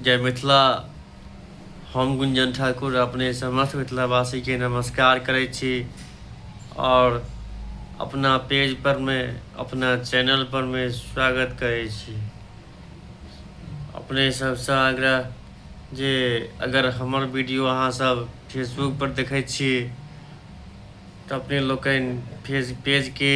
जय मिथिला हम गुंजन ठाकुर अपने समस्त मिथिलावासीके नमस्कार करै छी आओर अपना पेज पर मे अपना चैनल पर मे स्वागत करै छी अपने सबसँ आग्रह जे अगर हमर वीडियो अहाँ सब फेसबुक पर देखै छी तऽ अपने लोकनि फेज पेजके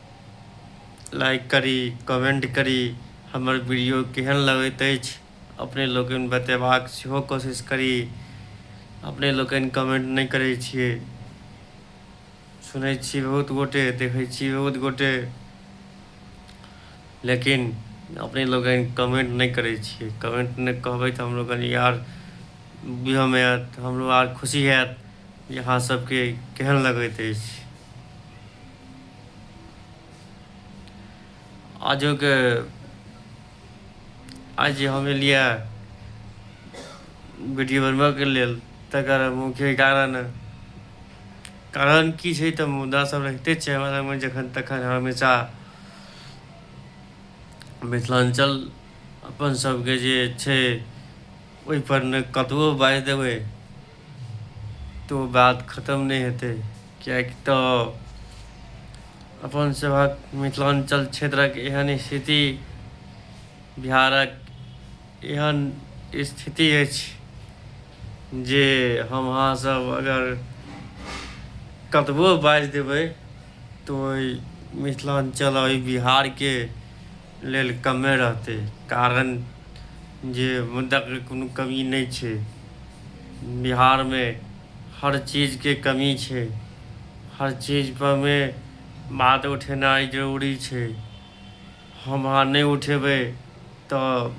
लाइक करी कमेंट करी हमर वीडियो केहन लगैत अछि अपने लोकनि बतेबाक सेहो कोशिश करी अपने लोकनि कमेंट नहि करै छियै सुनै छी बहुत गोटे देखै छी बहुत गोटे लेकिन अपने लोकनि कमेंट नहि करै छियै कमेंट नहि कहबै तऽ हम लोकनि यार बुझयमे आयत हमरो आर खुशी हैत जे अहाँ सभके केहन लगैत अछि आजोके आज जे हम एलियै वीडियो बनबऽके लेल तकर मुख्य कारण कारण की छै तऽ मुद्दा सब रहिते छै हमरा लगमे जखन तखन हमेशा मिथिलाञ्चल अपन सबके जे छै ओहिपर ने कतबो बाजि देबै तो बात खतम नहि हेतै किएक तऽ अपन सभक मिथिलाञ्चल क्षेत्रक एहन स्थिति बिहारक एहन स्थिति अछि जे हम अहाँसभ अगर कतबो बाजि देबै तऽ ओहि मिथिलाञ्चल आओर बिहारके लेल कमे रहतै कारण जे मुद्दाके कोनो कमी नहि छै बिहारमे हर चीजके कमी छै हर चीजपरमे बात उठेनाइ जरूरी छै हम अहाँ नहि उठेबै तऽ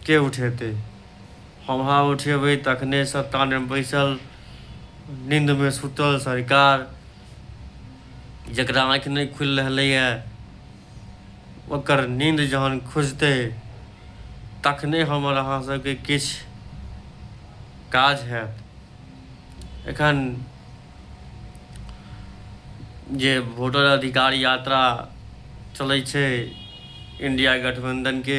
के उठेतै हम अहाँ उठेबै तखने सत्तामे बैसल नीन्दमे सूतल सरकार जकरा आँखि नहि खुलि रहलैए ओकर नींद जहन खुजतै तखने हमर अहाँ सबके किछु काज हैत एखन जे वोटर अधिकार यात्रा चलै छै इंडिया गठबंधनके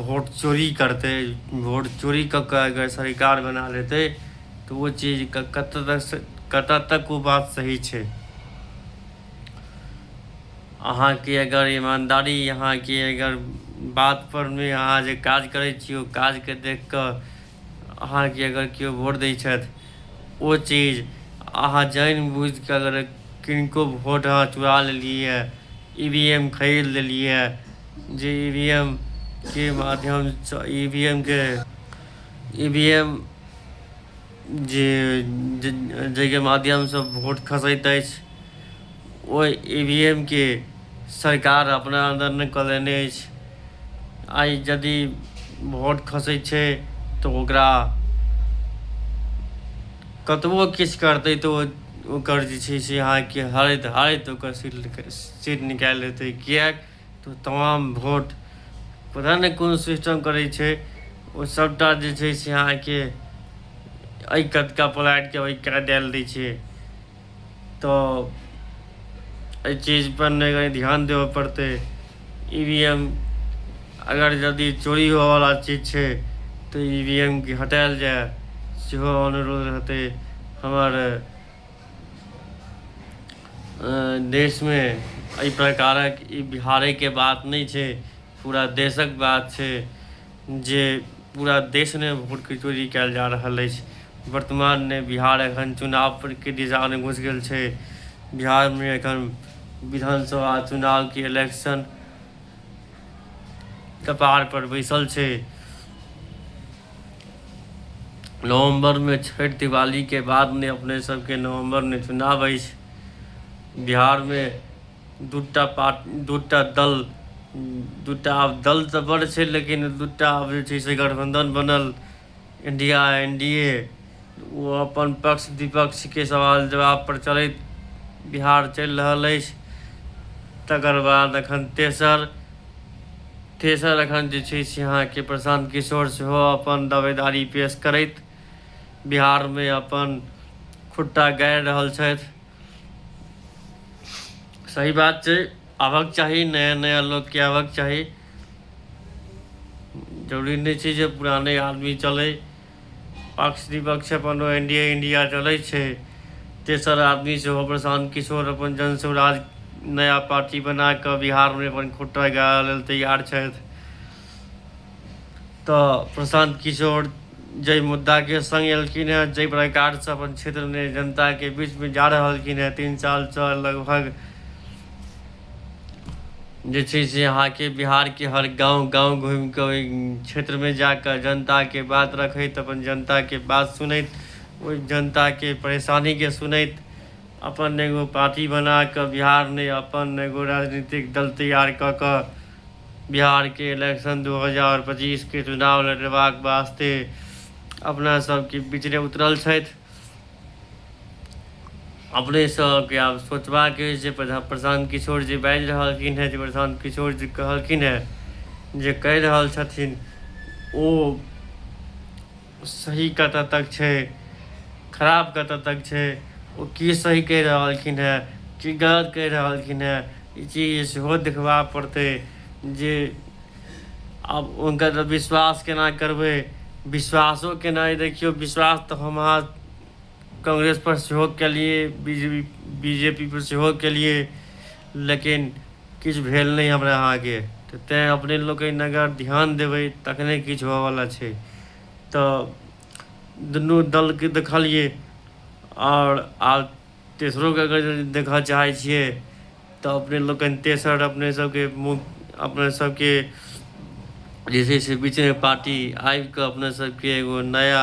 वोट चोरी करतै वोट चोरी कऽ कऽ अगर सरकार बना लेतै तऽ ओ चीज कतऽ तक कतऽ तक ओ बात सही छै अहाँके अगर ईमानदारी अहाँके अगर बातपर मे अहाँ जे काज करै छी ओ काजके देख कऽ अहाँके अगर केओ वोट दै छथि ओ चीज अहाँ जानि बुझि कऽ अगर किनको वोट अहाँ चुरा लेलियै ई वी एम खरीद लेलियै जे ई वी एम के माध्यमसँ ई वी एम के ई वी एम जे जाहिके माध्यमसँ वोट खसैत अछि ओहि ईवीएम के सरकार अपना अन्दर नहि कऽ लेने अछि आइ यदि वोट खसै छै तऽ ओकरा कतबो किछु करतै तऽ ओ ओकर जे छै से अहाँके हरैत हरैत ओकर सीट सीट निकालि लेतै किएक तऽ तमाम वोट पता नहि कोन सिस्टम करै छै ओ सभटा जे छै से अहाँके एहि कटका पलाटि कऽ ओहि काटि डालि दै छै तऽ एहि चीजपर नहि कनि ध्यान देबऽ पड़तै ई वी एम अगर यदि चोरी होयवला चीज छै तऽ ई वी एम के हटायल जाय सेहो अनुरोध रहतै हमर देशमे एहि प्रकारक ई बिहारेके बात नहि छै पूरा देशक बात छै जे पूरा देशमे वोटके चोरी कयल जा रहल अछि वर्तमानमे बिहार एखन चुनावके दिशामे घुसि गेल छै बिहारमे एखन विधानसभा चुनावके इलेक्शन कपारपर बैसल छै नवम्बरमे छठि दिवालीके बादमे अपने सभके नवम्बरमे चुनाव अछि बिहारमे दूटा पार्ट दूटा दल दूटा आब दल तऽ बड़ छै लेकिन दूटा आब जे छै से गठबंधन बनल इंडिया एन डी ए ओ अपन पक्ष विपक्षके सवाल जवाब पर चलैत बिहार चलि रहल अछि तकर बाद एखन तेसर तेसर एखन जे छै से अहाँके प्रशांत किशोर सेहो अपन दावेदारी पेश करैत बिहारमे अपन खुट्टा गाड़ि रहल छथि सही बात छै आबक चाही नया नया लोकके आबक चाही जरूरी नहि छै जे पुराने आदमी चलै पक्ष विपक्ष अपन एन डी ए इंडिया चलै छै तेसर आदमी सेहो प्रशांत किशोर अपन जन स्वराज नया पार्टी बना कऽ बिहारमे अपन खुट्टा गाड़ै लेल तैयार छथि तऽ प्रशांत किशोर जाहि मुद्दाके संग एलखिन हेँ जाहि प्रकारसँ अपन क्षेत्रमे जनताके बीचमे जा रहलखिन हेँ तीन सालसँ लगभग जे छै से अहाँके बिहारके हर गाँव गाँव घूमि कऽ ओहि क्षेत्रमे जा कऽ जनताके बात रखैत अपन जनताके बात सुनैत ओहि जनताके परेशानीके सुनैत अपन एगो पार्टी बना कऽ बिहारमे अपन एगो राजनीतिक दल तैयार कऽ कऽ बिहारके इलेक्शन 2025के चुनाव लड़ेबाक वास्ते अपना सबके बीचरे उतरल छथि अपने सबके आब सोचबाक अछि जे प्रशांत किशोर जी बाजि रहलखिन हेँ जे प्रशांत किशोर जी कहलखिन हेँ जे कहि रहल छथिन ओ सही कतऽ तक छै खराब कतऽ तक छै ओ की सही कहि रहलखिन हेँ की गलत कहि रहलखिन हेँ ई चीज सेहो देखबा पड़तै जे आब हुनकर तऽ विश्वास केना करबै विश्वासो केनाइ देखियौ विश्वास तऽ हम अहाँ कांग्रेसपर सेहो केलियै B J P B J P पर सेहो केलियै लेकिन किछु भेल नहि हमरा अहाँके तऽ तैँ अपने लोकनि अगर ध्यान देबै तखने किछु होयवला छै तऽ दुनू दलके देखलियै आओर आब तेसरोके अगर देखय चाहै छियै तऽ अपने लोकनि तेसर अपने सभके मुख अपने सभके जे छै से बीचेमे पार्टी आबि कऽ अपने सभके एगो नया